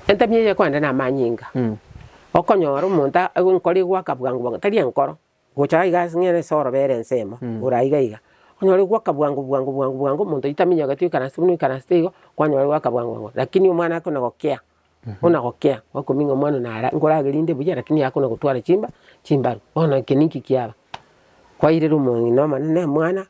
Entemi eye kogenda namanyinga, okonyora omonto enkoro egoaka bwango bwango tari enkoro, gocha iga ase ng'ere ase orobere ensemo igoro aiga iga, okonyora egoaka bwango bwango bwango bwango omonto oitaminyoketi oikaranse buna oikaranste igo, kwanyora egoaka bwango bwango lakini omwana ake buna gokea, buna gokea gwakoming'a omwana one ara nkoragerinde buya lakini akona gotwara chimba chimbaru, bono eke ninki kiaba? Kwairera omong'ina omonene mwana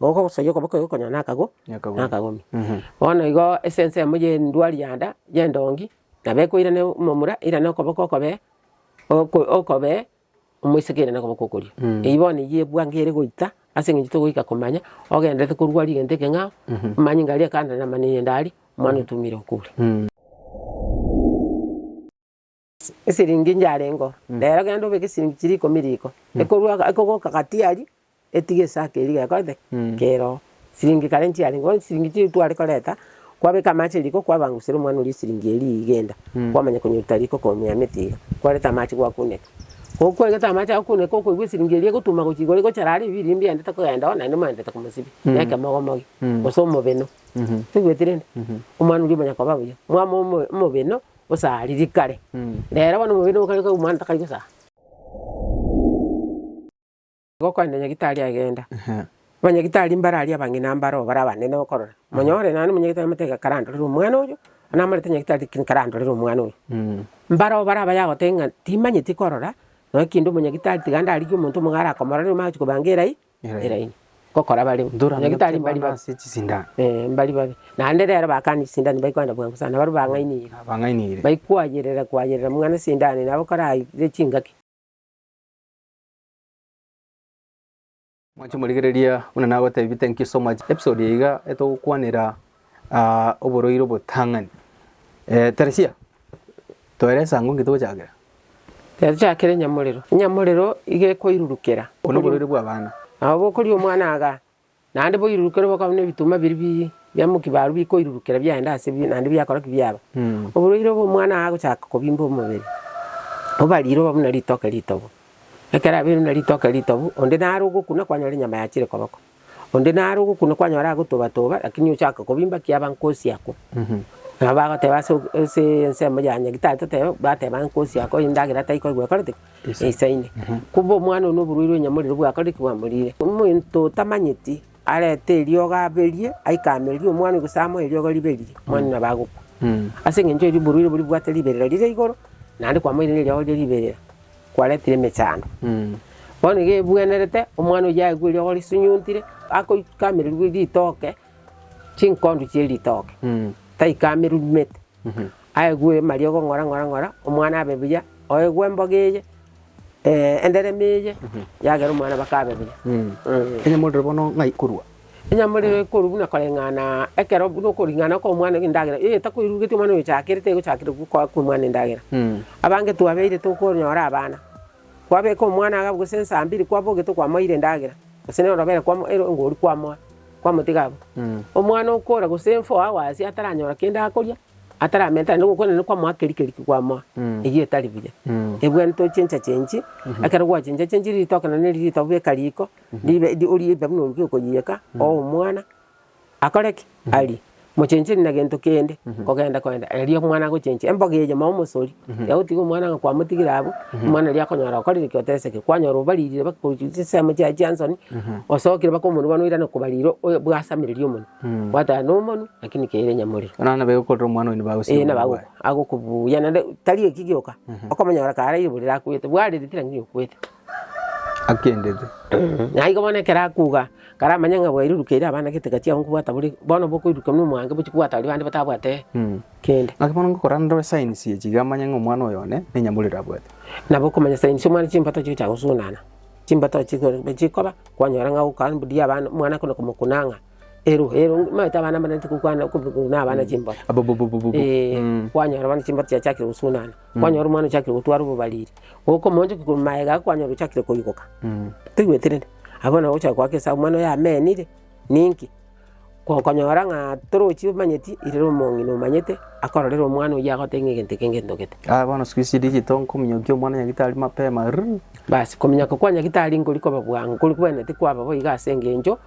Mogoko gosayia okoboko eye okonyora nakago nakagomi. Bono igo ase ensemo y'endwari yanda y'endongi nabo ekoirana omomura eirane okoboko okobe oko okobe omoiseke eirane okoboko okorio. Eyio bono eyio ebwangere goita ase eng'encho togoika komanya ogenderete korwari egento ekeng'ao omanye ng'a aria ekando namaneine ndari omwana otumire okure. Esiringi nyarengo, rero genda obeke esiringi chiria ikomi riko, ekorwa ekogoka gati aria, etige esake eria gekorete ki? keroo. Siringi kare nchiarengo, bono siringi chiria tware koreta, kwabeka amache riko kwabangusera omwana oria esiringi eria igenda, kwamanya konyeruta riko komia emete iga, kwareta amache gwakuneka. Ko kwareta amache agokuneka okoigwa esiringi eria egotuma gochia igoro egochara aria ebiiri mbiaendete kogenda oo naende mwaendete komosibia, na ekemogomogi, gose omobeno. Toigweti rende? Omwana oria omanya koba buya, mwama omo- omobeno. Gosara riria kare. Rero bono omobere nigo okare koigwa mwana takari gosara. Igo okoenda nyagitari agenda. Abanyagitari mbare aria abang'ina mbare oo bare abanene okorora. Monyore naende omonyagitari amanyete iga karandorere omwana oyo, onye namarete nyagitari lakini karandorere omwana oyo. Mbare oo bare abaye agoteba ng'a timanyeti korora, naki kende omonyagitari tiga ndarigie omonto omonge arakomorore omanye gochi kobanga erai. eraini gokora bare Ndora onye gitari mbari babe ase chisindani eh mbari babe naende rero bakani chisindani baikoenda bwango sana barabwo bang'ainire abang'ainire baikoayerera koayerera muna esindani nabo koraire chingaki. Mwanche morigereria buna nagotebiete nkisomache episode eye iga etogokwanera. aa oborwaire obotang'ani. Eh, Teresia, toera esango ng'iti gochakera. Yachakera enyamorero, enyamorero iga ekoirurukera. Okoria oborwaire bw'abana. Nabo bokoria omwana aga, naende boirurukere bokabu na ebituma biria bi bia mokia baru bikoirurukera biagenda ase bi naende biakora ki? Biaba. Mm. Oborwaire obo omwana aa agochaka kobimba omobere, obarire oba buna ritoke ritobu. Ekero abeire buna ritoke ritobu, onde naro ogokuna kwanyora enyama yachire koboko. Onde nare ogokuna kwanyora agotobatoba, rakini ochake kobimba ki aba nkosi akwo. Nabo bagoteba ase ok- aseee ensemo ya nyagitari totebe, bateba nkosi akwo endagera taikori gwekorete ki? Eisaine. Kumbe omwana oyio na oborwaire bwa enyamorero bwakorire ki? Bwamorire. Omonto otamanyeti arete eriogo aberie, aike ameririe omwana oyio gose amoe eriogo riberire, omwana oyio nabo agokwa. Ase eng'encho erio oborwaire boria bobwate riberera rire igoro, naende kwamoire neriogo riria riberera. kwaretire emechando. Bono iga ebwenerete, omwana oyio aigwe eriogo risunyuntire, akoikamererwa ritoke, chinkondu chie ritoke, taikamerurumete, aigwe amariogo ng'ora ng'ora ng'ora, omwana abe buya, oegwe emboga eye, enderema eye, yagera omwana baka abe buya. Onye morire bono ng'ai korwa Enyamorero ekorwa buna koreng'ana ekero buna okoring'ana kw'omwana endagera, eye takoirurugetie omwana oyochakire, tegochakire gokoa kw'omwana endagera. Abange twabeire tokonyora abana, kwabeka omwana agwo gose nsaa mbiri kwabogete okwamoeire endagera, gose na orobere kwamo ero engori kwamoa, kwamotiga abwo. Omwana okora gose enfo agwo aase ataranyora kende akoria, ataramenta naende gokora naende kwamoa keri keri ki kwamoa, eyio etari buya. Ebwenerete ochenchache inche, ekero gwachenchachenchire ritoke naende neri ritobe beka riko. Ribe eri oriibe buna oruki okoyieka oo omwana akore ki? Arie. Mochenchiri na gento kende kogenda kogenda erio omwana agochenchia emboga eye mao omosori tiga gotiga omwana ng'a kwamotigire abwo omwana oria akonyora okorire ki? Oteseke. Kwanyora obaririre baka gochi chisemo chiaye chia nsoni osokire baka omonwe bono oirane kobarira oyo bwasamereria omonwe gwateba na omonwe lakini keire nyamorero. Buna nabo egokorera omwana oyo nabo agosiria Ee nabo omonwe ago- bwaye. agokobuya naende tari eki gioka okomonyora karaire burere akwete bwarire tira ng'ina okwete. akendete. Naigo bono ekero akuga, karamanye ng'a bwairuruka eira abana gete gachia ago nkobwata bore, bono bokoiruruka buna omwango bochia kobwata baria bande batabwate kende. Naki bono ngokora ndore signs echi iga manye ng'a omwana oyo one nenyamuriri abwate. Nabo okomanya signs omwana chimbato chigochia gosugunana, chimbato chiko chikoba, kwanyora ng'a ogoka mbuya abana omwana kona komokuna ng'a. Ero, ero, omanyete abana mbaraneti gokwana okobi- korwa na abana chimboro. Abububububu. Eh, Mm. kwanyora bono chimboro chiachakire gosunana, kwanyora omwana ochakire gotwara obobariri, okomoonchokia korwa maega iga kwanyora ochakire koigoka. Mm. Toigweti rende? Abwo bono ogochaka goaka esaa omwana oyo amenire, ninki? Ko- konyora ng'a torochi omanyeti, irere omong'ina omanyete. akororera omwana oyio agote ng'a egento eke ngentogete. Aya bono siku ici digital nkominyokia omwana nyagitari mapema rrrr. Basi kominyoka kwa nyagitari nkori koba bwango, nkori kwene tikwaba boigo as'engencho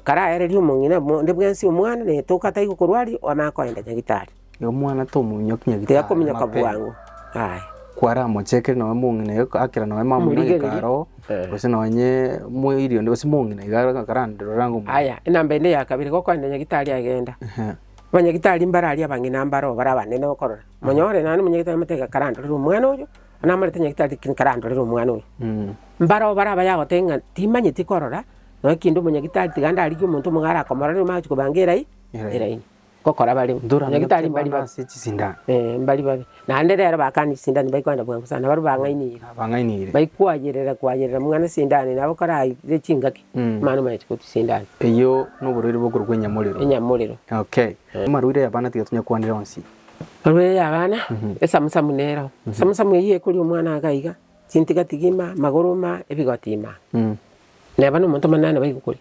karaereria omong'ina buna onde bwensi omwana na etoke atai gokorwaria onaa koenda nyagitari. Igo omwana tomominyoki nyagitari mapema. Tigakominyoka bwango aye. Kwaramochekire nonye mong'ina iga akera nonye mama oino Omorigereria. ageka aroo, Eh. gose nonye moiri onde gose mong'ina iga karanderere ang'e omong'ina. Aya enamba ende ya kabere gokoenda nyagitari aye genda. Ehe. Abanyagitari mbare aria abang'ina mbaro bare abanene okorora. Monyore nonye omonyagitari amotebie karandorere omwana oyo, namorete nyagitari lakini karandorere omwana oyo. Mbaro bare abaye agoteba ng'a timanyeti korora nonye kende omonyagitari tiga ndarigie omonto omogaye arakomorore omanye gochi kobanga eraini, eraini. Gokora bare, nyagitari mbari babe. Ee, mbari babe. Naende rero bakana chisindani baikwa na bwango sana, barabwo bang'ainire, bang'ainire. baikwayereria kwayereria muna ne sindani, nabo koraire chingaki, Mm. mani omaete korwa chisindani, Eyio noborwaire bokorwa kwa enyamorero. enyamorero. Okay. Amarwaire ya abana tiga tonya kwanera onsi. Amarwaire ya abana, esamusamu nero, esamusamu eyio ekoria omwana iga iga, chintigatigi ima, magoro ima, ebigoti ima. Mm. Neba na omonto monene nabo egokoria.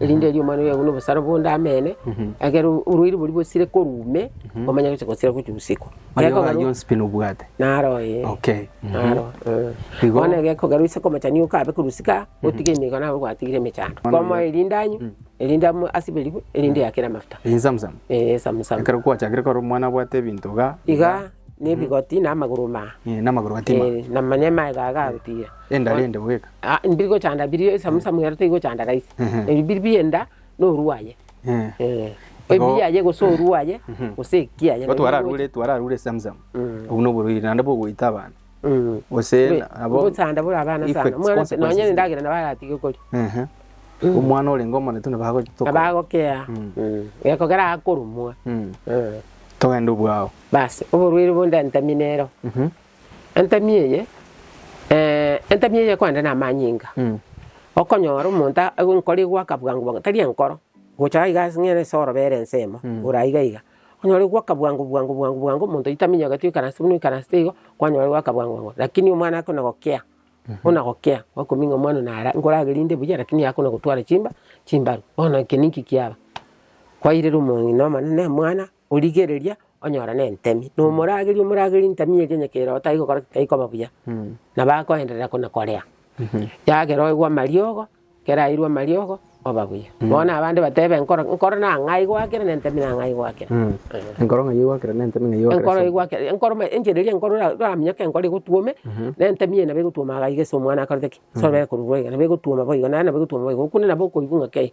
erinde erio omwana oye aigwe nobosara bonde ameene, ekero oboruoti boria bosire korwa ime, omanye gocha gosira gochia usiku. Aye Gekogera- ogaye onsi pi nobwate. Naro ee. Okay. Mhm. Naro, eh. Igo- Bono gekogarwa ase omochando okabe korwa usiku aa, otige emigo nabo gwatigire emechando. Bono- Komoa erinde anywe, erinde am- asiberigwe, erinde eyakere amafuta. Insamsam. Ee, esamusama. Ekero kwachakire korora omwana abwate ebinto iga. Iga, na ebigoti, na amagoro omanga. Eh, namagoro gatima. Eh, na manywe amaega iga agotira. Enda rende bweka. Ah, mbiri gochanda biri esamusamu ero teri gochanda raisi. Mhm. Ebi biri bienda noru aye. Eh. Eh. Igo- Ebi yaye gose oru aye Mhm. gose eki aye. Igo twararure twararure samsam Mm. obwo noborwaire naende bogoita abana Mm. gose Be- nabo Gochanda bore abana sana. effects, Omwana consequences. nonye nendagera nabo aratige kori. Ehe. omwana orenge omone tu nabagotoka Abagokea. Mm. Mm. Gekogera akorumwa. Mm. Eh. togende obwao Basi oborwaire bonde ntamine ero. Mhm. Entemi eye, entemi eye ekogenda namanyinga, okonyora omonto aigwe enkoro egwaka bwango bwango tari enkoro, gocha aiga ase ng'ere ase orobere ensemo, igoro aiga iga, okonyora egwaka bwango bwango bwango bwango omonto oitaminyoketi oikaranse buna oikaranste igo, kwanyora egwaka bwango bwango lakini omwana ake buna gokea, buna gokea, gwakoming'a omwana one ara nkoragerinde buya lakini akona gotwara chimba chimbaru, bono eke ninki kiaba? Kwairera omong'ina omonene mwana Origereria onyora nentemi, na omorageri omorageri ntemi eria onye keroo tayikokora ki tayikoba buya, nabo akoenderera kona korea. Yagera oigwa amariogo, kera airwe amariogo oba buya. Bono abande batebe nkoro nkoro na ng'ai gwakera na entemi na ng'ai gwakera. Enkoro ng'ai egwakera na entemi ng'ai Enkoro egwakera. egwakera enkoro ma enchera eria enkoro ora oramenyoke enkoro egotwome, na entemi eye nabo egotwoma iga iga ase omwana akorete ki? Ase orabare korurwa iga nabo egotwoma boigo naende nabo egotwoma boigo okure nabo okoigwa ng'a kei,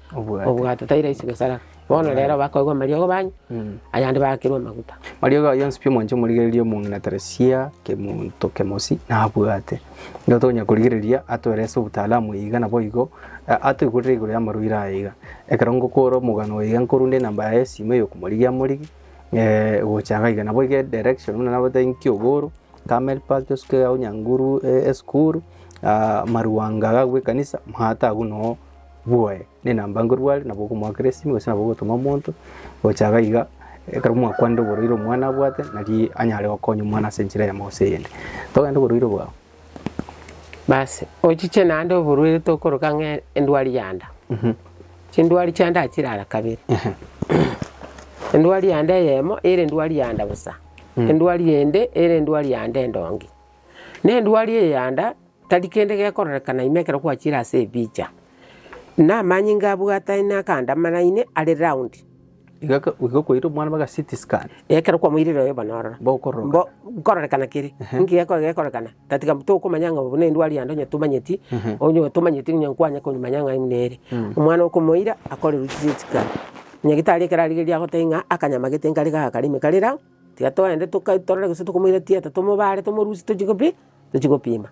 obwate tai rahisi gosaraka. Bono rero bakoigwa amariogo banywa, ayande baakirwe amaguta. Mariogo ayio onsi pi omwancha omorigereria omong'inantere sia kemonto kemosi nabwate. Nigo tonya korigereria atoerese obutaalamu iga naboigo a- atoigurere igoro y'amarwaire aya iga. Ekero ngokora omogano oyo iga nkorunda enamba yaye y'esimo ey'okomorigia amorigi gocha iga iga naboigo edirection buna naboete inki oboro, camel park tosuke agwo nyanguru esukuru, marwanga agwo ekanisa, maate agwo noo. bwoye, nenamba nkorware, nabo okomoakera esimi, gose nabo ogotoma omonto gocha iga iga, ekero mwakwanire oborwaire omwana abwate, nari anyare gokonya omwana ase enchera eyemo gose eyende. Togende oborwaire bwao. Basi ochiche naende oborwaire tokoroka ng'a endwari ya nda, chindwari chia nda chire ara kabere. Endwari ya nda eyemo ere endwari ya nda bosa, endwari ende ere endwari ya nda endonge. Na endwari eye ya nda. Tari kende gekororekana ime ekero gwachiire ase ebicha. Na amanyinga abwataine akandamaraine are round. Iga iga kwaire omwana baga CT scan. Ekero kwamoirire oyo bono ororo. Bokororoka. Mbo nkororekana kere. Ehe. Nki gekore gekororekana. Tatiga tokomanya ng'a obo nendwari yande onye tomanyeti. Ehe. Onye otomanyeti onye nkwanye komanya ng'a imwe nere. Omwana okomoira akorerwe CT scan. Nyagitari ekero arigereria agotebia ng'a akanyama gete nkare gaka kare ime kare round. Tiga toende torore gose tokomoira tieta, tomobare, tomorusie tochie kopi, tochie kopima.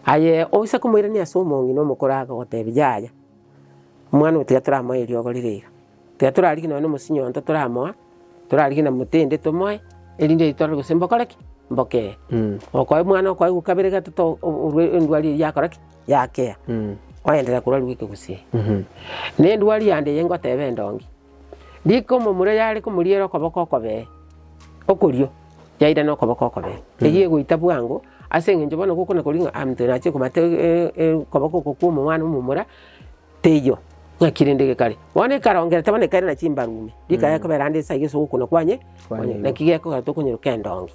Aye oise komoirania ase omong'ina omokoro agagotebia, yaya, omwana oyo tiga toramoe eriogo rire iga, tiga torarigie nonye na omosinyo onto toramoa, torarigie na motende tomoe, erinde erio torore gose mbokore ki? Mbokee. Okoe omwana okoegwa kabere gatato o- o- orwa endwari eyio yakora ki? Yakea. Oenderere korwa rweka gose. Na endwari yande eye ngoteba endongi. Rika omomura yare komoriera okoboko okobee okorio, yairana okoboko okobee. Eyio egoita bwango, ase eng'encho bono gokona koria ng'a omonto oyo nache komata okoboko oko kwa omomwana omomura, teiyo, ng'aki rende gekare. Bono ekarongerete bono ekairana chimbaru ime, rikaya kobera ande ase ayio ase ogokuna kwanye, naki gekogera tokonyeroka endongi.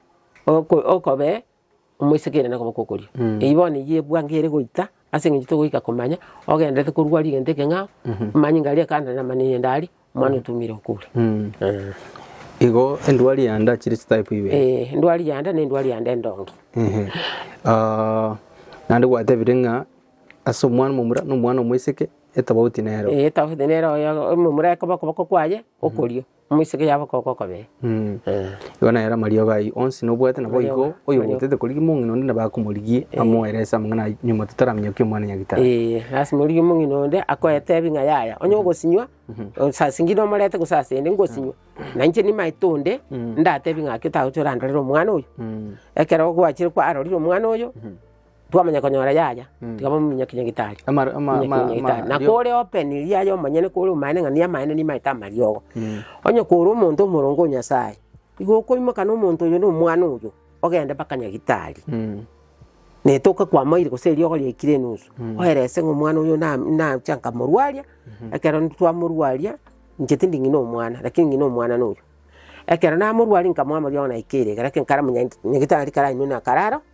Oko okobe omoisekeria na koba kokoria. Eyio bono eyio ebwango ere goita ase eng'encho togoika komanya ogenderete korua rigento ekeng'ao, omanyinga aria ekanda namanene ende aria, omwana otumire okure. Eeh. Igo endwari yanda chire chitype ibere. Eeh, endwari yanda na endwari yanda endonge. Ehe. Aaah, naende gwatebire ng'a ase omwana omomura na omwana omoiseke etobauti nere oo. Eeh etobauti nere oyo omomura ekoba okoboko kwaye okorio, Moiseke yabo koko okobee. Igo nere amariogo ayio onsi nobwate, nabo igo Amariogo, oyo amariogo. obotete korigia omong'ina onde nabo akomorigia, amoere ase amang'ana a nyuma totaramenya ki omwana nyagitari. Ee, lasima origie omong'ina onde akoetebi ng'a yaya, onye ogosinywa, sasi ng'ina omorete gose ase ende ngosinywa, na inche nimaete onde, ndatebi ng'aki otagocha orandorere omwana oyo. Ekero gwachire kwarorire omwana oyo, twamanya konyora yaya, Mm. tiga bamominyokie nyagetari. Amar- ama- Minyokie ama- nyagetari. ama- Na rio- kore open riaye omonyene kore omaene ng'a niyo amaene nimaete amariogo. Mm. Onye kore omonto omoronge o Nyasaye, igo okoimoka na omonto oyo na omwana oyo, ogende mpaka nyagetari. Mm. Na etoke kwamoire gose eriogo riaikire enusu, oerese ng'a omwana oyo na- nacha nkamorwaria, ekero twamorwaria, inche tindi ng'ina omwana, lakini ng'ina omwana noyo. Ekero namorwaria nkamoa amariogo naika ere, egere ekenkare monyente, nyagetari karainwe na kararo.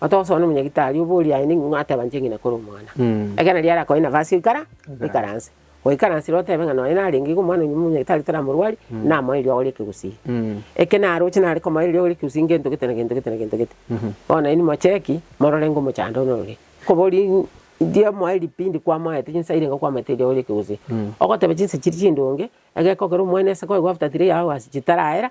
Otogosoa na omonyagitari obo oria aye ning'o ng'a ateba inche ng'ina kore omwana? Ekero nario arakoe nafasi ekara ekaranse. Goikaransire otebe ng'a nonya narenge iga omwana onyume omonyagitari toramorwari, namoe erio agore ekegusii. Eke naroche nare komoa erio agore ekegusii ngento gete na gento gete na gento gete. Bono nainwe mocheki, morore ng'a omochando one orore. Koba oria in- ndiamoa eripindi kwamoete chinsa irenga kwamoete erio agore ekegusii. Ogoteba chinsa chiria chindonge, egekogera omwana ase koegwa after three hours chitaraera,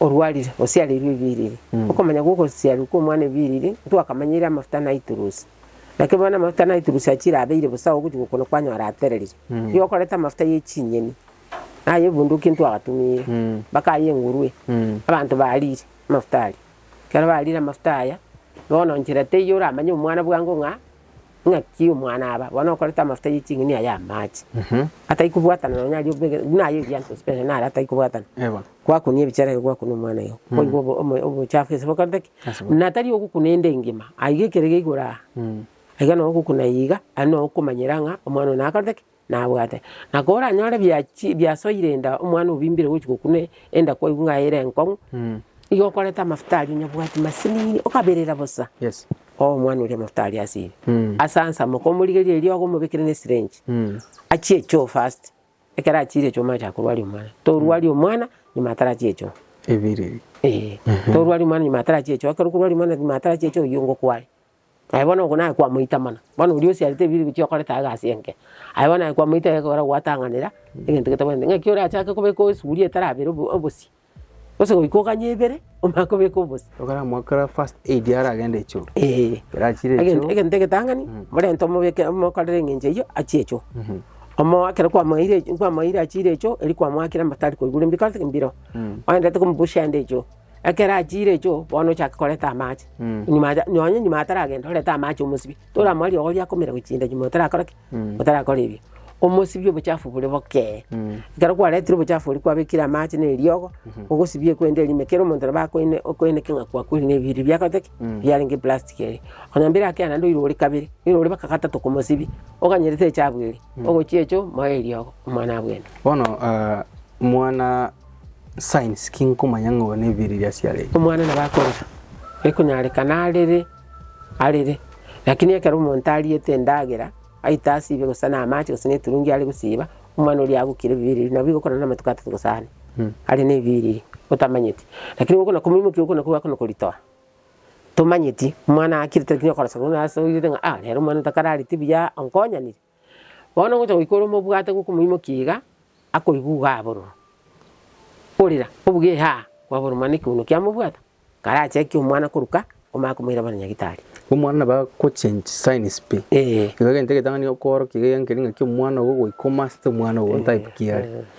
orwarire, osiareirwe ebiriri. Okomanya gw'ogosiarwa kw'omwana ebiriri ntwakamanyeire amafuta naiturusi. Naki bono amafuta naiturusi achiire abeire bosa ogochia gokuna kwanyora atereririe. Riria okoreta amafuta ye chinyeni, naye ebunduki ntwagatumire, bakaya engurue, abanto barire amafuta aria. Ekero barire amafuta aya, bono nchera teiyo oramanye omwana bwango ng'a. Naki omwana aba bono okorete amafuta ye ching'ini aya amache, atai kobwatana nonya aria obegete, buna aye Erianto special nare atai kobwatana, gwakunia ebichera igo gwakuna omwana igo, koigwa obo omo obochafu ase bokorete ki? Ase bo- Natari ogokuna ende engima, aiga ekere geigoro aa, aiga nogokuna iga, aye nokomanyera ng'a omwana one nakorete ki? nabwate. Na koranyore biachie biasoire enda omwana obimbire gochia gokuna enda kwaigwa ng'a ere enkong'u, igo okoreta amafuta aria onyabwati masinini okaberera bosa oo omwana oria amafuta aria ase ime. Ase ansamoke omorigererie eriogo omobekere ne syringe achie echoo first, ekero achiire echoo omanyete akorwaria omwana. Torwaria omwana nyuma atarachia echoo. Eeh torwaria omwana nyuma atarachia echoo ekero okorwaria omwana nyuma atarachia echoo oyio ngokware. Aye bono ogo naye kwamoita mana, bono oria osiarete ebibe ebi chiokorete egasi enke, aye bono naye kwamoita ekero gwatang'anera egento getabwati, ng'aki orachake kobeka esuguri etarabera obo obosie, gose goika oganye ebere omanye kobeka obosie. Okaramwa kera first aid aragende echoo. Eeh. Ekero achire echoo. Egento egento egetang'ani, morente omobeke omokorere eng'encho eyio achie echoo. Omo ekero kwamoeire echi kwamoeire achire echoo, eri kwamoakire amatari koigure mbikorete ki? Mbiro. Oendete komubushia ande echoo. Ekero achiire echo, bono ochake korenta amache, nyuma acha nonye nyuma ataragenda orente amache omosibie, toramwarire igo riakomera gochinda nyuma otarakora ki? Otarakora erio. Omosibie obochafu bore bokee, ekero kwaretire obochafu oria kwabekire amache na eriogo, ogosibie ekwende eria ime kera omonto nabo akoine okoineke ng'a kwakweri na ebiiri biakorete ki? Biarenge eplastic eria. Onye mbere akia naende oire ore kabere, oire ore baka gatato komosibia, oganyerete echabu eria, ogochia echo, moe eriogo, omwana abwene. Bono mwana. Signs, ki nkomanya ng'a oyo nebiiri eria asiarete? Omwana nabo akorera, ekonyarekana arere, arere. Lakini ekero omonto ariete endagera, aite asibe gose na amache gose na eturungi are gosiba, omwana oria agokira ebibiiri ebiria, nabo igo okorora na amatuko atato gose ane, are na ebibiiri ebiria, otamanyeti. Lakini gokona komoimokia gokona kogwo akona koritoa, tomanyeti, omwana akire tari konya okoroseka buna asoirire ng'a ah rero omwana otakarareti buya, onkonyanire. Bono ngocha goika ore omobwate gokomoimokia iga, akoigwa igo abororo. Orira, obuge haa, kwabororo mana ekiuno kiamobwata, karache akie omwana koruka, omanye komoirabana nyagitari. Omwana nabo agochange signs pi. Eeh. Igo egento egetang'ani okoorokia iga egenkeri ng'aki omwana ogo goika omaster omwana ogo otype ki are.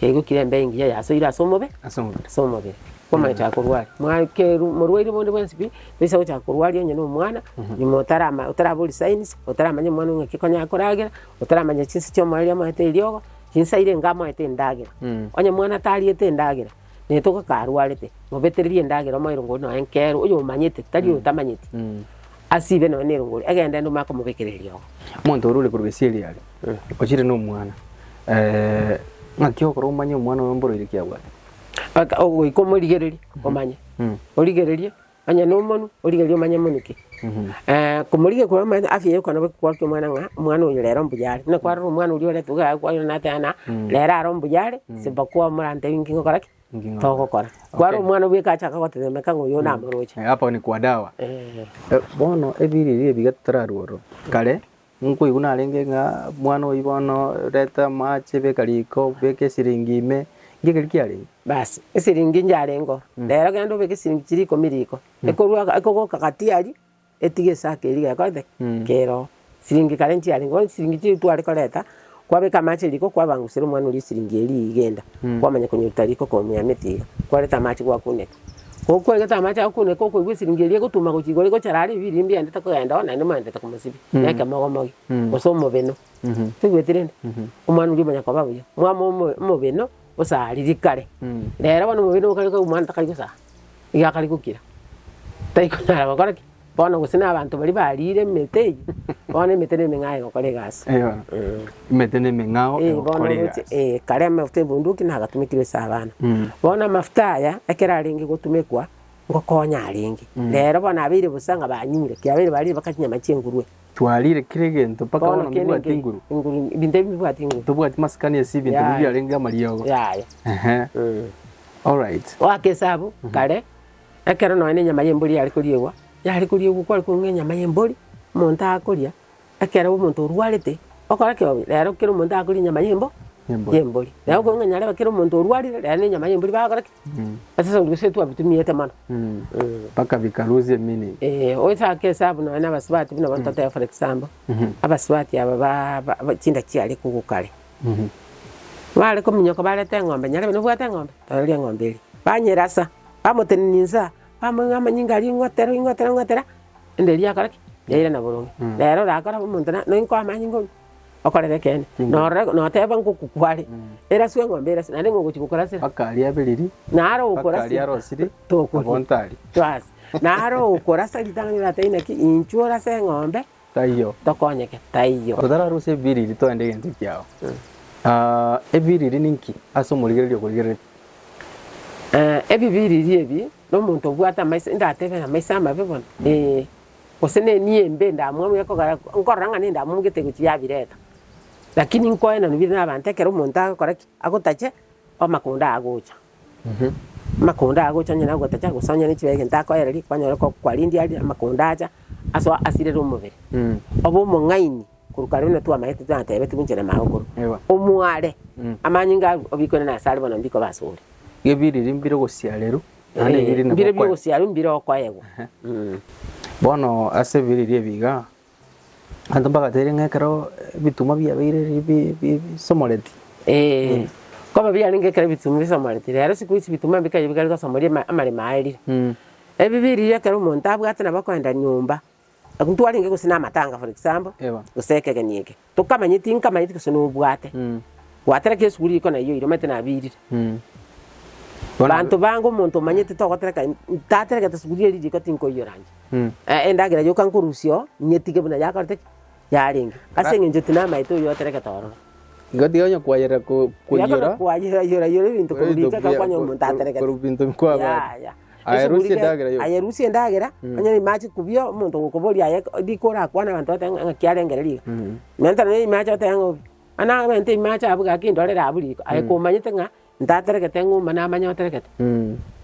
Yaigokire embe engiya yasoire ase omobe ase omobere. ase omobere kwamanyete akorwari mwakeru morwaire bonde bwensi pi toisa gochaka korwaria onye na omwana nyuma otarama otarabori signs otaramanya omwana ong'e ki konya akoragera otaramanya chinse chia omoreri amoete eriogo chinsa ire enga amoete endagera onye omwana tariete endagera netoka ka arwarete mobetererie endagera omoe erongori nonye nkero oyo omanyete tari oyo otamanyeti asibe nonye na erongori egende ende omanye komobekera eriogo. Omonto ore ore korwa esiri aria. Ochire nomwana, eh, ng'aki okore omanye omwana oyo mboroire ki abwate? Aka- ogoika omorigererie omanye Mm. origererie onye nomonu origererie omanye monu ki Eh, komorigia kore omanyete afya yaye okona boigo kwaruta omwana ng'a omwana oyo rero mbuya are, buna kwarora omwana oria orentwe iga aye kwanyora nateba ng'a rero are ombuya are isipokuwa morantebi inki ngokora ki? Inki ngokora. Togokora. Kwarora omwana bweka achaka gotetemeka ng'a oyo namoroche. Eh, hapa ni kwa dawa. Eh, Eh, bono ebiriri ebiga totararwa ororo, kare Nkoigwa narenge ng'a mwana oyio bono, reta amache, beka riko, beka esiringi ime, nki ekeri kiarenge? Basi, esiringi nchiarengeo, rero genda obeke esiringi chiria ikomi riko, ekorwa ekogoka gati aria, etige esako eria gekorete ki? Keroo. Siringi kare nchiarenge, bono siringi chiria tware koreta. Kwabeka amache riko kwabangusera omwana oria esiringi eria igenda, kwamanya konyoruta riko komweamete iga, kwareta amache gwakuneka. Ko kwareta amache agokuneka okoigwa esiringi eria egotuma gochia igoro egochara are ebiiri mbi yendete kogenda oo naende mwerendete komosibia na ekemogomogi gose omobeno. Toigweti rende? Omwana oria omanya koba buya. Mwama omo- omobeno osariri kare, rero bono omobeno okarigwa omwana takari gosara, iga akari gokira, tari konyara gokora ki? Bono gose nabanto baria bariire emete eyio, bono emete nemeng'ao egokora egasi. Eeh, emete nemeng'ao Eeh, bono egokora roche, egasi. eeh, kare amafuta ebunduki nagatumekirwe ase abana. Mm. Bono amafuta aya, ekero arenge gotumekwa, ngokonya arenge. Rero bono abeire bosa ng'a banyure, ki abeire bariire baka chinyama chi'engurue. Twariire kera egento mpaka bono kende mbibwati nge- nguru. enguru, ebinto ebi mbibwati nguru. Tobwati masikani ase ebinto Yaya. biria biarenge amariogo. Yaya. Ehe, Mm. alright. Goaka esabu, kare. Ekero nonya enyama y'embori yare koriegwa, yare koriegwa kware kong'aa enyama y'embori, omonto akoria, ekero omonto orwarete, okore ki obe? Rero kera omonto akoria enyama y'embo Y'embori. y'embori. Rero okong'a onye narebe kera omonto orwarire, rero na enyama y'embori bagokora ki? Asase gose twabitumiete mono. Mm. Mpaka bikalusia meaning. Eeh, oisake esabu nonya na abasubati buna bono totebe for example, abasubati aba ba- ba- ba- chinda chiaria kogokare, Baare kominyoka bareta eng'ombe, nyarebe nobwate eng'ombe, toreria eng'ombe eria. Banyerasa, bamotenenia insa, bamoigwa amanyinga aria ing'otera, ing'otera, ing'otera, ende eria yakora ki? Yairana boronge. Nere orakore abe omonto na noinko amanyinga onywe, okorera ekeene, norora noteba ngoku kware, eraswe eng'ombe eraswe, naende ng'o ogochia gokorasera? Mpaka aria abiriri, Naro mpaka okorasa aria arosiri, tokoria. abonto aria. Bas, naro okorasa ritang'ani rirateba inaki, inchuo orase eng'ombe, Taiyo. Tokonyeke. Taiyo. Totararusie ebiriri toende egento kiao. Ebiriri ninki ase omorigereria okorigereretie? Ebibiriri ebi na omonto obwate amaiso indatebe amaiso amabe bono? Ee. Gose ne enia embe ndamwamu ekogera nkorora ng'a nende amomu gete egochi yabireta. Lakini nkoenanu bire na abanto ekero omonto agokora ki? Agotache, amakondo agocha. Amakonda aa gocha onye nagotacha gose onye ne chibaga egento akoereria, kwanyora ko kwarendie aria amakonda acha asoa asirere omobere. Obe omong'aini korwa kare buna twamaete twatebetigwe inche na Mao korwa. Ewa. Omware amanyinga arwo obikore nase are bono mbikoba ase ore. Gebiriri mbire ogosiarerwa naende Ee, ebiriri nabwo mbire okwa- biogosiarwa mbire okoegwa. Ehe. Mm. Bono ase ebiriri ebi igaa, Abanto mbagateire ng'a ekero ebitunwa biabeire bi- bi- bi- bisomoreti. Ee, nkoba biarenge ekero ebitunwa bisomoreti, rero siku hizi ebitunwa mbikaire bikare gosomoria ama- amaremo aye rire. Mm. Ebibe riria ekero omonto abwate nabo akoenda nyomba, ntwarenge gose na amatanga for example, Eba. gose ekegeni eke. Tokamanye tinkamanyeti gose nobwate. Gwatera ki esuguri riko nayio ira omanyete nabiirire. Banto bange omonto omanyete togotereka ntaterekete esuguri eri riko tinkoiyora inche. Endagera yoka nkorusia oo nyetige buna yakorete ki? Yarenge. Ase eng'encho tinamaete oyio oterekete ororo. Igo tiga onye kwayerera ko- Tiga koiyora. konya kwayera yora yora ebinto korwa riko ekero kwanya omonto aterekete. Korwa ebinto bikwabaria. Yaya. Ayerusie endagera y'obuya. ayerusie endagera, onye rimo ache kobia omonto gokoboria aye riko orakwane abanto oteba ng'a ng'aki arengere riko. Menta nonya ime ache oteba ng'a obi, mani abente ime ache abuge gaki ndorere abwo riko, aye komanyete ng'a ntaterekete ng'umba namanye oterekete.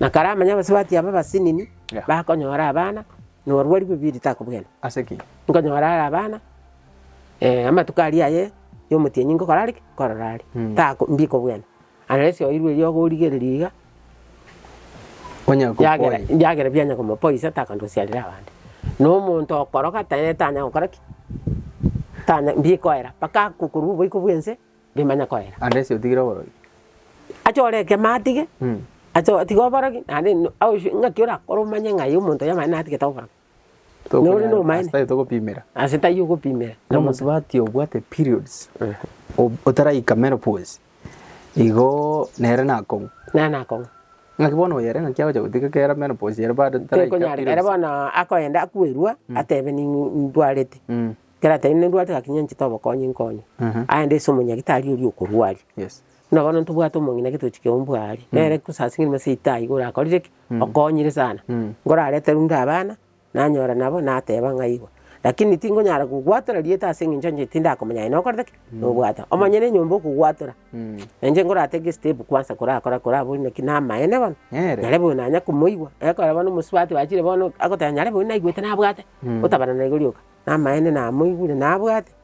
Na kare amanye abasubati aba abasinini, Yeah. bakonyora abana, norwori bw'ebibe ritakobugena. Ase ki? Nkonyora are abana, amatuko aria aye y'omotienyi ngokora are ki? Nkorora are. Tako mbikobugena. Aye ase oirwe erio ogorigereria iga, Onya gokwa yagera oye. yagera bianya koma poiso takanto siarire abande. Na omonto okoroka taye tanya gokora ki? Tanya mbikoera, mpaka akokorwa oboiko bwense bimanya koera. Ande ase otigire oborogi. Ache ore ekemo atige, Mm. ache otige oborogi, naende no- ausu- ng'aki orakore omanye ng'a aye omonto oyomwene natigete oborogi. Nore nomaene. Ase tari togopimera. Ase tari ogopimera. Na mosubati obwate periods otaraika menopause igo nere nakong'u. Nere nakong'u. Naki bono oyere ng'aki agocha gotiga kera menopause ere bado taraika periods. Tekonyareka ere bono akoenda akwerua atebe nindwarete. Ekero atebire nindwarete gaki nyanchete obokonyi nkonye. Aende ase omonyagitari oria okorwaria. Yes. Buna bono ntobwate omong'ina getochia keumbu aare. Nere kosasima seita igo orakorire ki? Okonyire sana. Nkorarete runde abana, nanyora nabo, nateba ng'a igo. Lakini tingonyara gogwatora rieta ase eng'encho inche tindakomanya aye nokorete ki? Nobwate. Omonyene enyomba okogwatora. Na inche nkoratake estep kwansa korakora koraba ore naki namaene bono, Nere. nare bono nanya komoigwa. Ekero bono omosubati bachire bono agoteba nyare bono naigwete nabwate, gotabana naigo rioka. Namaene namoigure nabwate,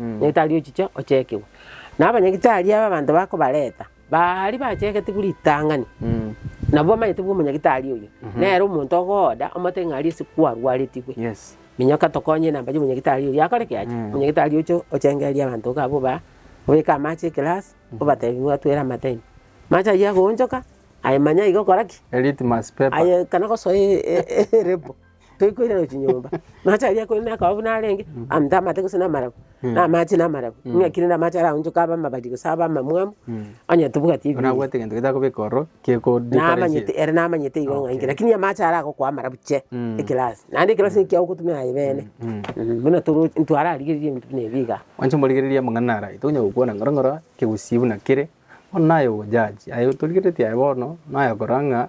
Nyagetari ochiche ochekigwe. Na abanyagitari aba abanto bakobareta, baria bachegete buna ritang'ani, na bwamanyete bwa omonyagitari oyio, nere omonto ogooda omotebie ng'a aria ase kwarwaretigwe. Yes. Minyoka tokonye namba ya omonyagitari oyio akore ki ache? Omonyagitari oche ochengererie abanto iga abwo ba obeke amache ekelasi, obatebie mwatwere amatime. Amache ayio agoonchoka, aye manya iga okora ki? Litmus paper. Aye ekana gosoa e- e- e- elebo. toikoirana chinyomba. Amache aria ekori na akaobobu narenge, amate amate gose na amarabu, na amache na amarabu. Ng'aki rende amache araonchoke abe amabari gose abe amamwamu, onye tobwati Buna ebibuya. abwate egento getakobeka ororo, geko Namanyete, ere namanyete igo ng'a inki, lakini amache ara agokoa amarabu che, ekelasi. Naende ekelasi eki kia ogotumia aye bene. Buna toro ntwararigereria ebinto buna ebi iga. Mwanche morigereria amang'ana ara, tonya gokwana ngoro ngoro, kegusii buna kere, bono naye ogojaji. Aye torigeretie aye bono, naye okora ng'a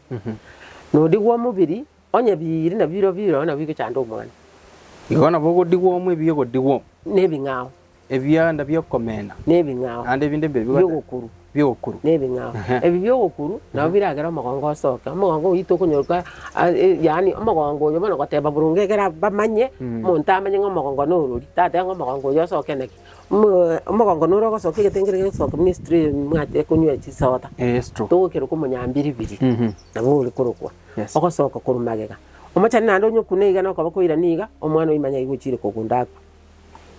Nodigwa omobiri, onye biiri na biro biro nabwo bigochanda omwana. Igo nabo ogodigwa omo ebi egodigwa omo. Nebing'ao. Ebianda bi'okomena. Nebing'ao. Naende ebinde mbire bigocha. Bi'ogokuru. Bi'ogokuru. Nebing'ao. Ebi bi'ogokuru nabo biragere omogongo osoke. Omogongo oito okonyoka yaani omogongo oyo bono goteba boronge ekero bamanye, omonto amanye ng'a omogongo norori, tateba ng'a omogongo oyo osoke naki. Omogongo nore ogosoka egetenge kere gegosoka Misiri ime mwachire konywa chisoda, Yes true. togokerwa korwa omonyambiribiri Mhm. nabo ore korokwa Yes. ogosoka korwa magega. Omochani naende onye okuna iga na okoba koirania iga, omwana oye manya aye gochire kogunda akwe.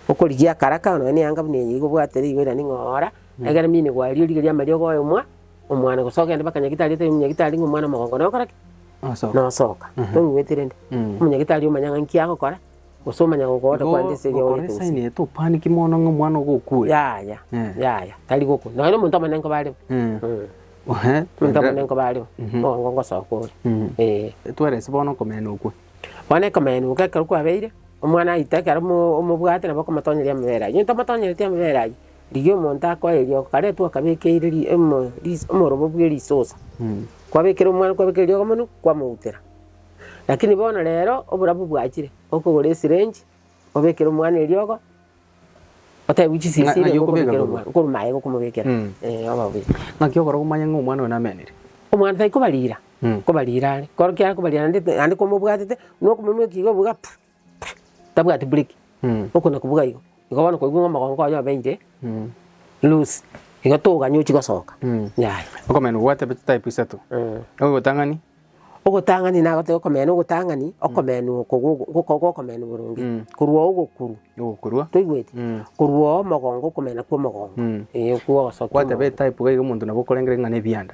Okorigia akaraka nonya na eyanga buna eye iga obwate rigo erinde ng'ora egere mine gwaria origerie amariogo oyomwa omwana gose ogende mpaka nyagitari otebie nyagitari ng'a omwana omogongo nokora ki? Ogosoka. nosoka. Tong'igweti rende? Mm. Omonyagitari omanya ng'a nki agokora. Gose omonyang'u okogocha Igo kwande ase ebiagoria gokoresa tonsi. inee, topaniki mono ng'a omwana ogokua? Yaya, Eh. yaya, tari gokwa. Nonya na omonto omone nko bareo. Eh. Mm. Ohe, Omonto omone nko bareo. Mhm. Mogongo ngosoka ore. Mhm. Eh. Tweresi bono okomena okwo. Bono ekomena okwo ekero kwabeire, omwana aite ekero omo- omobwate nabo okomotonyeria amabere aywo. Onye tomotonyeretie amabere aywo, rigia omonto akoe riogo karetwe okabekeire ri- omo- ris- omorobo bwe risosa. Mm. Kwabekera omwana kwabekera riogo mono, kwamoutera. Lakini bono rero oborabu bwachire, okogora esirenji, obekere omwana eriogo, otebwe chisiyo Na- siria naki okobeka okobekera korwa. omwana, okorwa maega okomobekera. Mm. Eh, oba obe. Ng'aki okora komanya ng'a omwana oyo namenire? Omwana tai kobarira, Mm. kobarira are. Koro kiakobarira naende naende komobwatete, nokomomeka iga obuga pu. tabwati bureki, oko na kubuga igo, igo bono koigwa ng'a omogongo oye obeire loose, igo toganya ochia gosoka yaya. Okomenya obwate type isato, ogotang'ani. Ogotang'ani nagoteba okomenya na ogotang'ani, okomenya oko gokoo goko okomenya boronge, korwa oo ogokurwa. Ogokurwa. Toigweti? Korwa oo omogongo okomenya kwa omogongo, ee okwo ogosokigwa omogongo. Gwateba etype iga omonto nabo okorengera ng'a na ebianda.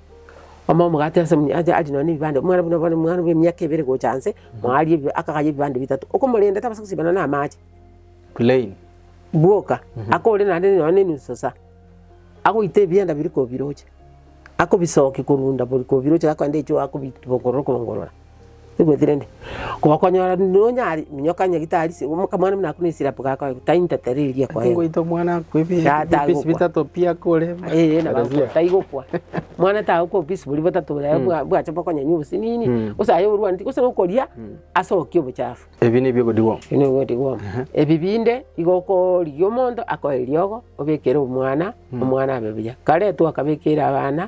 Omoa omogati ase omonyacha arie nonya nebibande, omwana buna bono omwana bwa emiaka ebere gocha nse, moarie ebi- akagaya ebibande bitato. Okomorenda tabasa gosibana na amache, Plain. bwoka, akore naende nonya nenusu saa, agoite ebianda biria kobiroche, akobisokia korwa unda bori kobiroche akoenda echoo akobibongorora korongorora. Oigweti rende? Gokonyora rende nonyare, minyoka onye gitari se- omo- omwana buna akure esirapu gakoegwa, tari ntato ere eria ekoegwa. Ngoita omwana akwe ebi- Yata ebi- ebipisi agokwa. bitato pi akore. Eeh, nabo Arisia. agokwa, tari gokwa. Mwana tagokwa obopisi boria botato boria bwa- bwacha bokonyenya obosinini, Mm. gose aye orwaneti, gose nokoria asokia obochafu. Ebi nibio ebigodigwa. Ebi nabio ebigodigwa omo. Ebi binde, igo okorigia omonto akoe eriogo, obekere omwana, omwana abe buya. Kare twakebekeire abana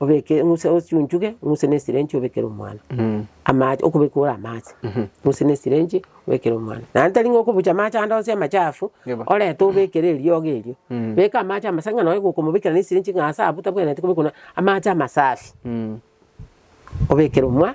obeke eng'use ochunchuge eng'use na esirenji obekere omwana. Amache okobeka ore amache eng'use na esirenji obekere omwana. Naende tari ng'a okobucha amache ande onsi amachafu Yebo. orete obekere eriogo erio. Beka amache amasafi ng'a nonye gokomobekera na esirenji ng'a ase abwo tabwenereti kobekwa na amache amasafi. Obekere omwa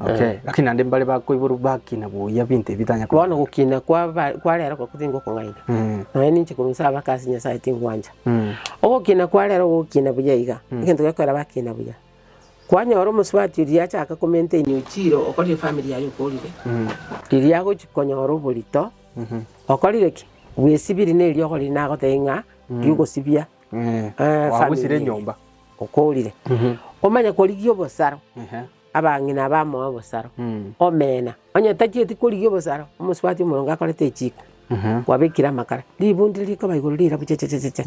Okay. Lakini naende mbare bakoiborwa bakina buya binto ebi bitanya koba. Bono gokina kwaba kwa rero goko tingokong'aina, Mm. nonya ninche korwa nse abake ase Nyasae tingwancha. Mm. Ogokina kwa rero gokina buya iga, egento gekogera bakina buya. Kwanyora omosubati oria yachaka komaintain ochire okore efamiri yaye okorire, riria agochi konyora oborito, okorire ki? Bwesibiri neri okorire nagotebia ng'a rigosibia. Kwagusire enyomba. Okoorire. Omanye korigia obosaro abang'ina abamoe obosaro. Omena. Onye tachieti korigia obosaro omosubati omoronge akorete echiko kwabekire amakara, ribu ndire rikoba igoro rirabu chechecheche,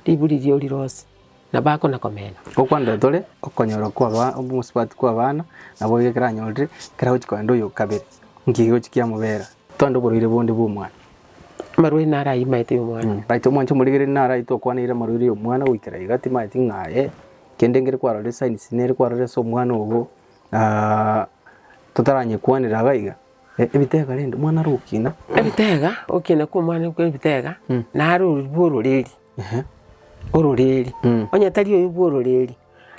ribu riria orire ose nabo akona komena. Okwandoria tore okonyora kwaba omosubati kw'abana nabo iga ekero anyorire ekero agochi kogenda oyo okabere, nki egochi kiamobera? Twande oborwaire bonde bw'omwana. Amarwaire naro aimaete y'omwana. Baito omwancha omorigereria naro aite okwaneire amarwaire y'omwana goikera iga timaeti ng'a ee kende ngere kwarorire signs nere kwarorire ase omwana ogo na totaranyekwanera iga iga. Ebitega rende omwana are ogokina. Ebitega, ogokina kwa omwana kwa ebitega nare oria bwa ororeri, ororeri. Onye tari oyio bwa ororeri,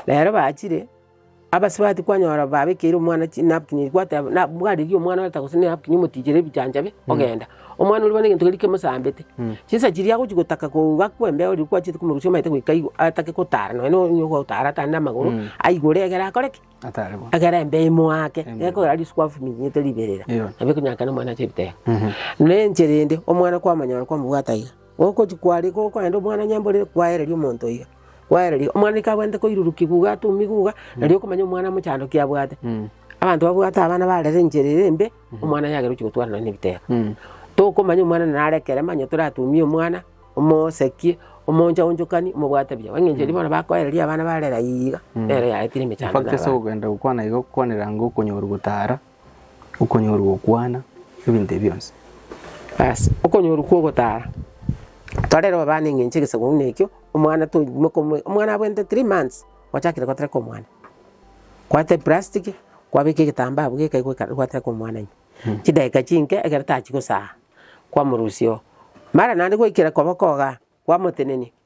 nere bachire. Abasibati kwanyora babekeire omwana chinapkin, gwateba na bwarigia omwana oreta gose nenapkin omotinyere ebichaanchabe ogenda. Omwana oria bono egento keria kemosambete, chinsa chiria agochia gotaka koo gakwa embeo riria kwachiete komorusia omaete goika igo atake gotara nonya na onye ogotara atare na amagoro, aigore egere akore ki? Atare bo. Egere embeo emoake, gekogera risuko afuminyete riberera, Erio. nabo ekonyarekana omwana ache ebitera. Na enchera ende omwana kwamonyora kwamobwata iga, gokochia kware gokoenda omwana onye mborere kwaereria omonto iga. Gwaereria, omwana ikabwate koiruruki guga atomi guga, nari okomanya omwana mochandoki abwate. Abanto babwate abana barere enchera ere embe, omwana yagera ochi gotwara nonye nebitera. Tokomanya omwana nare ekere manya toratumie omwana, omosekie, omoonchaonchokanie, omobwate buya. Engencho eria bono bakoereria abana barere ayiiga, nero yaetire emechando. Infact ase ogenda gokwana iga okwanera ng'a okonyorwa gotara Okonyorwa gokwana ebinto ebio bionsi. Aase okonyorwa kwa ogotara, torere babana eng'encho egesaku ng'a ekio, omwana to moka omoe omwana abwente three months, gwachakire gotereka omwana. Kwata eplastic, kwabeka egetambaa abwo gekai goika gwatereka omwana ime. Chidakika chinke ekero tachi gosaga, kwamorusia oo. Mara naende gwaikire koba kogaa, kwamotenenia,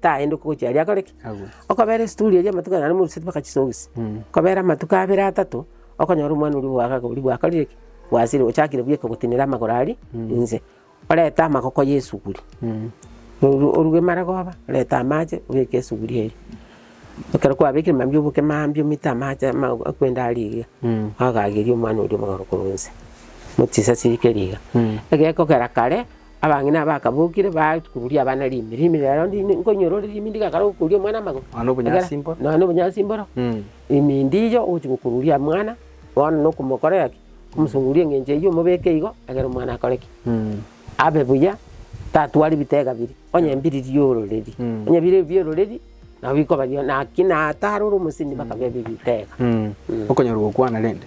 Taendoki gochia aria akore ki? Agwe. Okobera esituri eria amatuko naro moruseti mpaka chisogisi. Okobera amatuko abere atato, okonyora omwana oria oboaga akaba oria bwakorire ki? Bwasire ochakire bweka gotenena amagoro aria inse. Orete amagoko y'esuguri. Oru- oruge maragoba, orete amache, obeke esuguri eria. Ekero kwabekire mambia oboke mambia omete amache ama akwende aria eria. Agagerie omwana oria omogaro korwa inse. Mochisasirie riga. Egekogera kare. Abang'ina bakabokire, bagochia koruria abana rimi, rimi rero ndiri nkonyora ore rimi ndigakare gokoruria omwana amagoro. Nonya na obonyansi Egera, mboro. Nonya na obonyansi mboro. Mm. Rimi ndiiyo ogochia gokoruria mwana, bono nokomokorera ki? Okomosoruria eng'encho eyio omobeke igo, egere omwana akore ki? Mm. Abe buya, tatwari bitega biri, onye mbiri riororeri. Mm. Onye bire biororeri, nabo bikoba bio, naki nataro ore omosemi bakabebe bitega. Mm. Okonyora gokwana rende.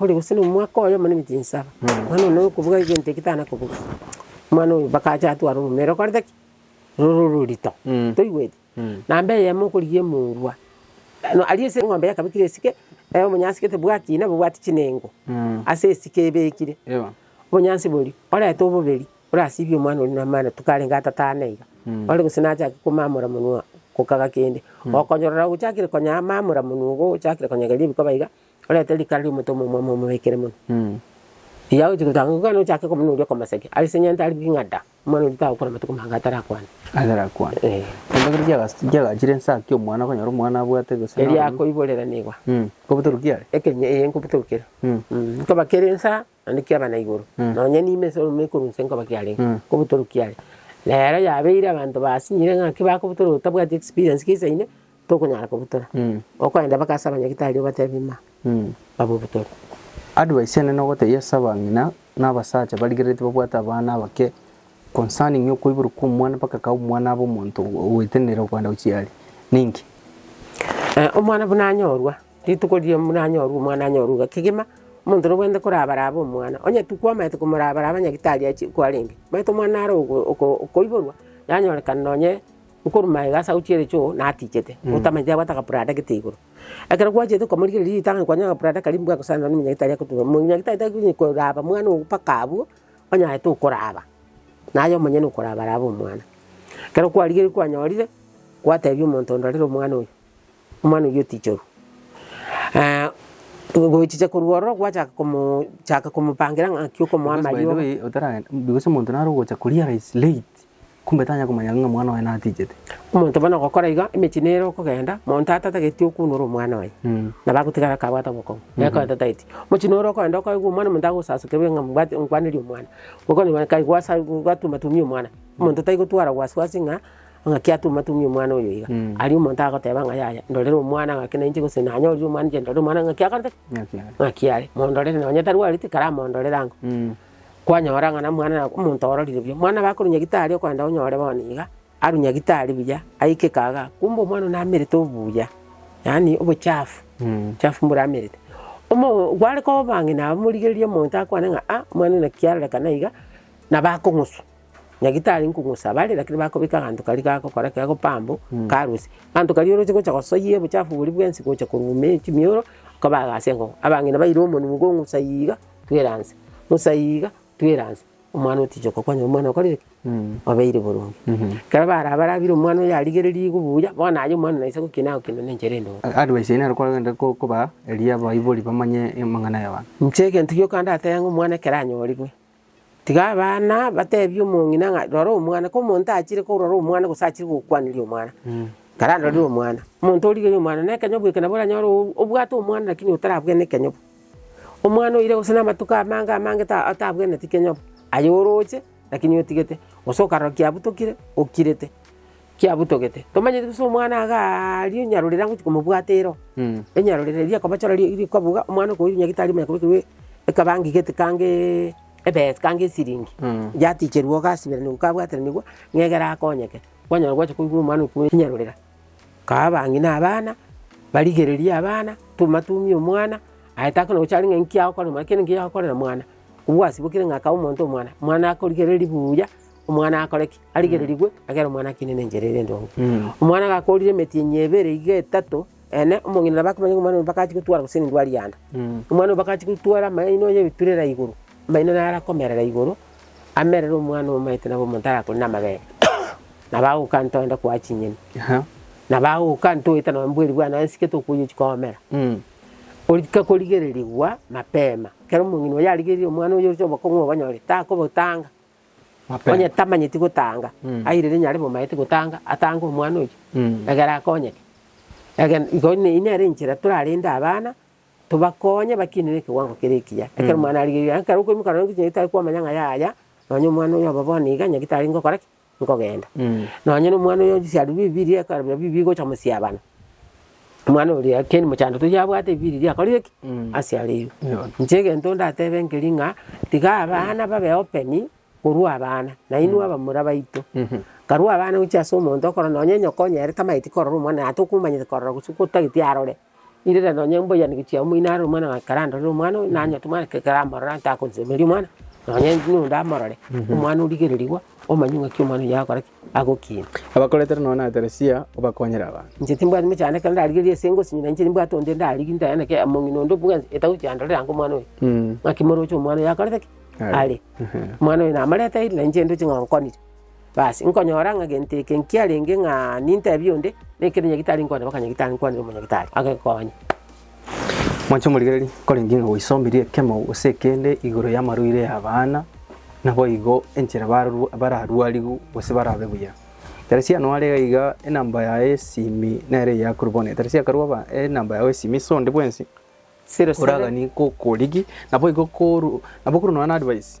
Ore gose nomwaka oyomo na emechie nsaba, mani nonya okobuga egento eke tana kobuga. Omwana oyo mpaka ache atware omomera okorete ki? Rore ororito. Toigweti? Namba eyemo okorigia emorwa, aria ase eng'ombe yakabekire esike, obonyansi gete bwakina bobwati chinengo, ase esike ebekire. Obonyansi boria, orete oboberi, orasibie omwana oria namatuko arenge atatano iga. Ore gose nachake komamora monwe, kokaga kende, okonyorora ogochakire konya mamora monwe igo ochakire konyegeria ebikoba iga. Orete rikara ri'omotomwa omwamo omobeekire mono. Riria agochia gotanga igo ekero ochake komanya oria okomosaria, ase engencho nigo ari king'ada, omwana oria tagokora amatuko maange atarakwane. Atarakwane. Ee. Korende ekero chiagas chiagachire inse aa ki omwana okonyora omwana abwate gose naro Eria akoiborera nigo. Kobutorokio are? Ekenye ee nkobutorokere. Nkoba kere inse aa. Naende kiaba na igoro, nonya niime ase oromeme ekorwa inse nkoba kiarenge kobotoro kiare. Na ero yabeire abanto basinyire ng'aki bakobotora otabwati experience ki isa ime tokonyara kobotora. Okoenda mpaka ase abanyagitari obatebie ma babobotore. Advice ene nogotebia ase abang'ina na abasacha barigereretie babwate abana abake concerning okoiborwa kwa omwana mpaka ka omwana abe omonto oetenenera okoenda gochia aria. Ninki? Omwana buna anyorwa. Rituko riria mwanyorwa omwana anyorwe iga kegima, omonto nobwenerete korabaraba omwana. Onye tikwamaete komorabaraba nyagitari achie kwarenge, omanyete omwana naro okoiborwa, yanyorekana nonye okorwa magega ase agochie ere choo natichete, otamanyeti abwate agaprada gete igoro. Ekero gwachete komorigereria ritang'ani nonye kwanyora agaprada karia mbwagosana nonye nyagitari akotuba, nyagitari tari konya koraba omwana ogo mpaka abwo, onye aye tokoraba, naye omonyene okorabaraba omwana. Ekero kwarigereiri kwanyorire, gwatebia omonto onde orere omwana oyo, Omwana oyio tichoru. Eeh, gochicha korwa ororo gwachaka komo chaka komopangira ng'aki okomoa Because by the amariogo. way, otaragenda, because omonto naro ogocha koria ara is late, kumbe tanya komanya ng'a omwana oye natichete. Omonto bono ogokora igo, emechie nere okogenda, monto atatageti okuunora omwana oye, Mm. nabo agotigara kabwate obokong'u, nere ko atatageti. Mochie nore okogenda okaigwa omwana omonto agosasokerwe ng'a mbwate nkwanerie omwana, okonywa kai gwasa gwatumatumia omwana, omonto taigotwara wasiwasi ng'a. Ng'aki atuma tumia omwana oyo iga? Aria omonto agoteba ng'a yaya, ndorere omwana, ng'aki nainche, gose nanyorire omwana inche ndore omwana ng'aki akorete ki? Ng'aki are. Ng'aki are. Mondorere nonye tarwareti, karamondorere ango. Kwanyora ng'a na omwana na omonto ororire buya. Omwana nabo akorwa nyagitari okwenda onyore bono iga, arwe nyagitari buya, aike kagaa, kumbe omwana oyio namerete obuya, yaani obochafu, ochafu mbore amerite. Omo gware koba ng'ina abamorigereria omonto akwane ng'a aa, omwana oyo naki arorekana iga, nabo akong'uswa. Nyagitari nkong'osabare, rakini bakobeka aganto karia gagokora ki? Gagopambo karusie. Aganto karia oroche gocha gosoyia obochafu boria bwensi gocha korwa ime ya chimioro, kobaga ase eng'oko. Abang'ina baire omonwe iga ong'usa iga, twera nse, ng'usa iga, twera nse. Omwana otichi okokwanyora omwana okorire ki? Obeire boronge. Ekero barabarabire omwana oyo arigereiri iga buya, bono aye omwana naisa gokina agokina na enchera ende oo. Advice yaye nero kwarogete ko- kobaa eria abaibori bamanye amang'ana y'abanto. Inche egento gioka ndatebe ng'a omwana ekero anyorigwe, Tiga abana batebie omong'ina ng'a, Rora omwana, komonto achire korora omwana gose achire gokwaneria omwana, tararorire omwana. Omonto origereire omwana nekenyobu eke nabo oranyore o- obwate omwana rakini otarabwene ekenyobu. Omwana oire gose na amatuko amange amange ta- atabweneti kenyobu, aye oroche rakini otigete, gose okarora kiabutokire okirete. kiabutogete. Tomanyeti buna omwana iga aria onyarorere agochia komobwata ero, enyarorere eria akobachora ri- rikoba iga, omwana okoirwa nyagetari ime akobekerwa ekabangi gete kangeeee ebesa kange esiringi, yaticherwa iga asiberenerwa kabwateranigwa ng'a egere akonyeke. Kwanyora gwachia koigwa omwana oyo kweri nyarorera, kae abange na abana, barigereria abana, tuma tumia omwana, aye takona gocha are ng'a inki agokorera omwana, kera inki yagokorera omwana, obwasibokire ng'a kae omonto omwana, omwana akorigereria buya. omwana akore ki? Arigererigwe agere omwana akine na enchera ere endonge. Omwana gakorire emeti enyia ebere iga etato, ene omong'ina nabo akamanya ng'a omwana oyo mbaka achie gotwara gose nindwari yande. Omwana oyo mbaka achie gotwara amaino onye ebiturera igoro, amaino naro akomerera igoro, amerere omwana omomaete nabo omonto arakore na amabere. Nabo agoka ntoende koa chinyeni, nabo agoka ntoete nonye mbweri bwane nonye nsike tokoyiochia koomera. Orika korigererigwa mapema, ekero omong'ina oyo yarigerire omwana oyo oroche obokong'u obonyore, takobotanga, Onye tamanyeti gotanga, airire nyare bomaete gotanga, atange omwana oyio, egere akonyeke. Egene igo eyio nere enchera torarende abana, tobakonye bakinere ekewango kere ekiya. Ekero omwana arigereire ang'e, ekero okoimoka nonye gochia nyagetari kwamanya ng'a yaya, nonye omwana oyo obe bono iga, nyagete aria ngokora ki? Nkogenda. Nonye na omwana oyo osiarwe bibiiri, ekero bibiiri gocha mosiabana. omwana oria keni mochando toyio abwate ebibe riria riakorire ki? Mm. Asiareirwe. Eeh. Inche egento ndatebe nkeri ng'a, tiga abana babe open korwa abana, nainwe abamura baito. Mhm. Karwa abana gochia ase omonto okorora nonye nyoko onyare tamanyeti korora omwana oye, atokomanyete korora gose otageti arore, irira nonye mbuya gochia omoino arore omwana ng'a ekero andorire omwana oyo, nanyete omwana ekero aramorora ntakonsemeria omwana, nonye ninde amorore, omwana origererigwa, omanye ng'aki omwana oyio akora ki? Agwo ki? Abakoretere nonya na Teresia obakonyere abanto. Inche timbwati mochando ekero ndarigereria ase engosi, ng'ina inche nimbwate onde ndarigi ndayaneke amo, ng'ina onde bwe etabu chiandorere ango omwana oyo. Mm. Ng'aki moroche omwana oyo akorete ki? Are. Are. Ehe. Omwana oyo namarete aire, na inche ndoche ng'a onkonire. Basi, nkonyora ng'a gento eke nkiarenge ng'a nintebie onde, nekero nyagitari nkwane, baka nyagitari nkwanire omonyagitari, agekonye. Mwanche omorigereria, nkorenge ng'a gwaisomire ekemo gose ekende igoro y'amarwaire y'abana, naboigo enchera barorwa bararwarigwe gose barabe buya. Ekero chiano are iga iga enamba yaye y'esimi nere eyio akorwa bono, ekero chiakorwa aba enamba yago y'esimi ase onde bwensi, oragani gokorigia naboigo korwa nabo okorwa nonye na advice.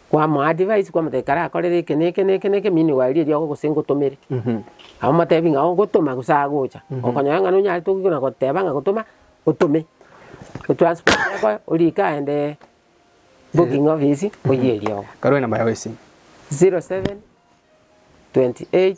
kwamoa advice kwamotebia ekero akorire eke na eke na eke na eke meanwhile erio riago gose ngotomere. Amotebi ng'a oo gotoma gose agocha, okonyora ng'a nonyarete okoigwa na goteba ng'a gotoma otome. Otransport ekoe orike aende booking office oyie riogo. Karue namba yao ya esimu. 07 28.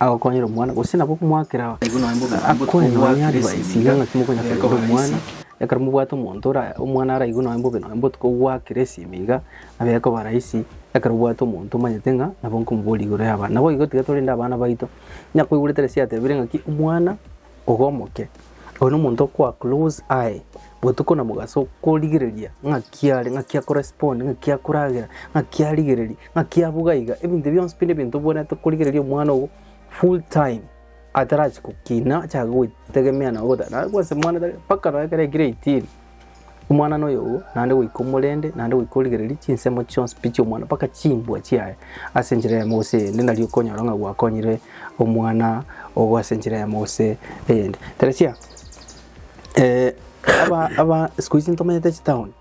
agokonyera omwana, gose nabo okomwakera akwane nonya aria baisirie ng'aki mokonyakera ore omwana, ekero mobwate omonto ora omwana araigwe nonya bobe nonya botuko ogwakera esimi iga, nabo ekoba rahisi ekero obwate omonto omanyete ng'a nabo nkomoboria igoro y'abana. Naboigo tiga torende abana baito, onye akoigwera tari ase yatebire ng'aki omwana. Ogomoke, oyo nomonto okoa close aye botuko na mogaso korigereria ng'aki are, ng'aki ako respond, ng'aki akoragera, ng'aki arigereria, ng'aki abuga iga, ebinto bionsi pi nebinto obwenerete korigereria omwana ogo full time atarachi gokina achake gotegemea nawe goteba naende bwensi mwana tari mpaka nonye ekero aikire eighteen. omwanano oyo oo naende goika omorende naende goika origereria chinsemo chionsi pi chi'omwana mpaka chimbwa chiaye ase enchera eyemo gose eyende nari okonyora ng'a gwakonyire omwana ogo ase enchera eyemo gose eyende. Teresia aba aba sikuhizi ntomanyete chitown,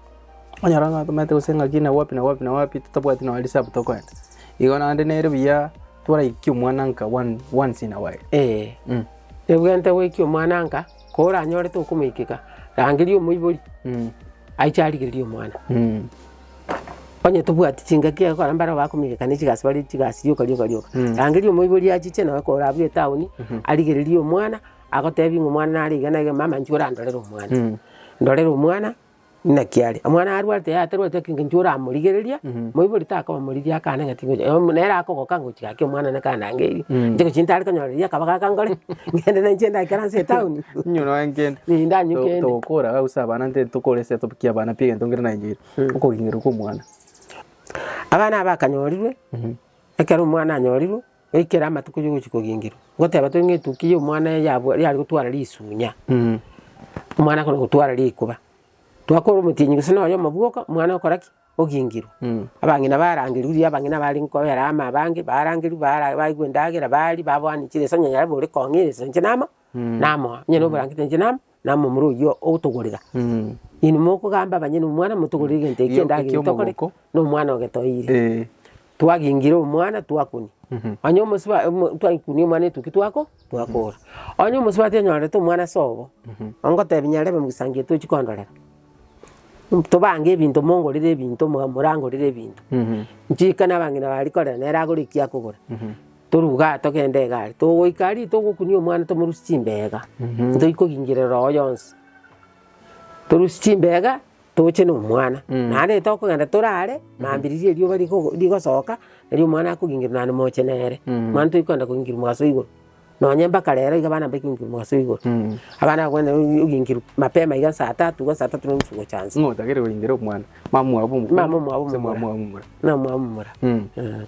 okonyora ng'a ntomanyete gose ng'aki na wapi na wapi na wapi totabwati nonye reserve tokoenda. Igo naende nere buya twaraiki omwana nka one once in a while. Eeh. Ebwenerete goikia omwana nka. Koranyorete okomoikeka, rangeria omoibori aiche arigererie omwana. Onye tobwati chingaki egokora mbare bakomoigeka ne chigasi bare chigasi rioka rioka rioka. Rangeria omoibori achiche naye korabwo etaoni arigererie omwana, agotebi ng'a omwana nare iga na iga mama inche orandorere omwana. Ndorere omwana. Naki are, omwana arwarete yaya tarwarete ake engencho oramorigereria, moibori takoba moriri akana ng'a tigocha, eh, omo- nere akogoka ngochi gaki omwana naka andangerie, inche gochia ntare konyora riria akaba gaka nkore, ngende nainche endagera nase etown. Inyo noe nkende. Ee, ndanywe To- kende. Togokora iga gose abana nte tokoresa topikie abana pi egento nkere naengeire. Okogengerwa kwa omwana. Abana aba akanyorirwe, ekero omwana anyorirwe. Goikera amatuko y'ogochia kogingerwa, ngoteba tore ng'etukia ya omwana eye yabwa yare gotwara risunya, omwana akona gotwara rikuba, twakora omotienyi gose nonya omobwoka, omwana okora ki? Ogingerwa. Abang'ina barangerwa riria abang'ina bare nkobera ama abange, barangerwa bara baigwa endagera baria, babwani chire sonye yare bore kong'ina ase inche namo. namoa, onye noborangeti inche namoa, namoa omorwe oyio ogotogorera. Inwe mokogamba abanyene omwana motogorere egento eki Ekiagera endagera eye tokore, eki'omogoko. na omwana ogetoeire. Ee. Twagingire omwana twakunia, onye omosiba omo twaikunia omwana etukia twako twakora. Onye omosubati onyorete omwana ase obo, ongotebi nyarebe mogisangi tochi kondorera, tobange ebinto mongorere ebinto, mwa morangorere ebinto. Nchika nabang'ina baria korera nere agore ekiakogora. Toruge aa, togende egari. Togoika aria, togokunia omwana tomorusie chimbeega. Ntochi kogingerera oo yonsi. Torusie chimbeega, toche na omwana. Naende tokogenda torare, mambiriri erioba rigo- rigosoka, erio omwana akogingerwa naende moche nere. Mani ntochi kogenda kogingerwa mogaso igoro. Nonye mpaka rero iga abana mbaike kogingerwa mogaso igoro. Abana abwo bwenene ogingerwa mapema iga saa tatu iga saa tatu na nusu gocha inse. Ng'a otagere kogingerwa omwana, mamwabo omokoro. Mamwabo omokoro. Gose mamwabo omomura. Mamwabo omomura. Mamwabo omomura. Eeh.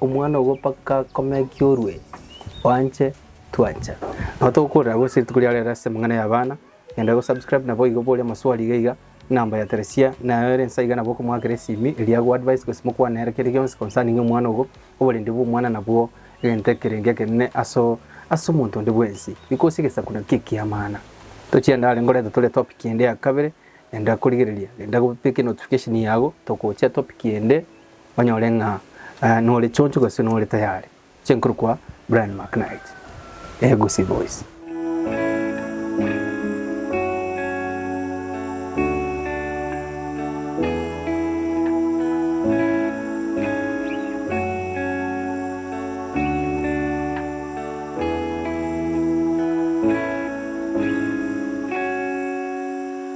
Omwana obo mpaka akomekie orue, oanche twancha. Nabo togokorera gose rituko riao rero ase amang'ana y'abana. Genda go subscribe naboigo bore amaswali iga iga, enamba ya Theresia naye ore nsa iga nabo okomoakera esimi eria agwo advice gose mokwane nere kende gionsi concerning omwana obo, oborende bw'omwana nabwo egento ekerenge ekenene aso ase omonto onde bwensi. Riko ase egesaku naki eki'amana. Tochia ndare ngorete tore topic ende ya kabere, genda korigereria, genda go beka enotification yago, togochia topic ende. Onyore ng'a nore choncho gose nore tayari. Chinkuru kwa Brian McKnight, Egusii Boys.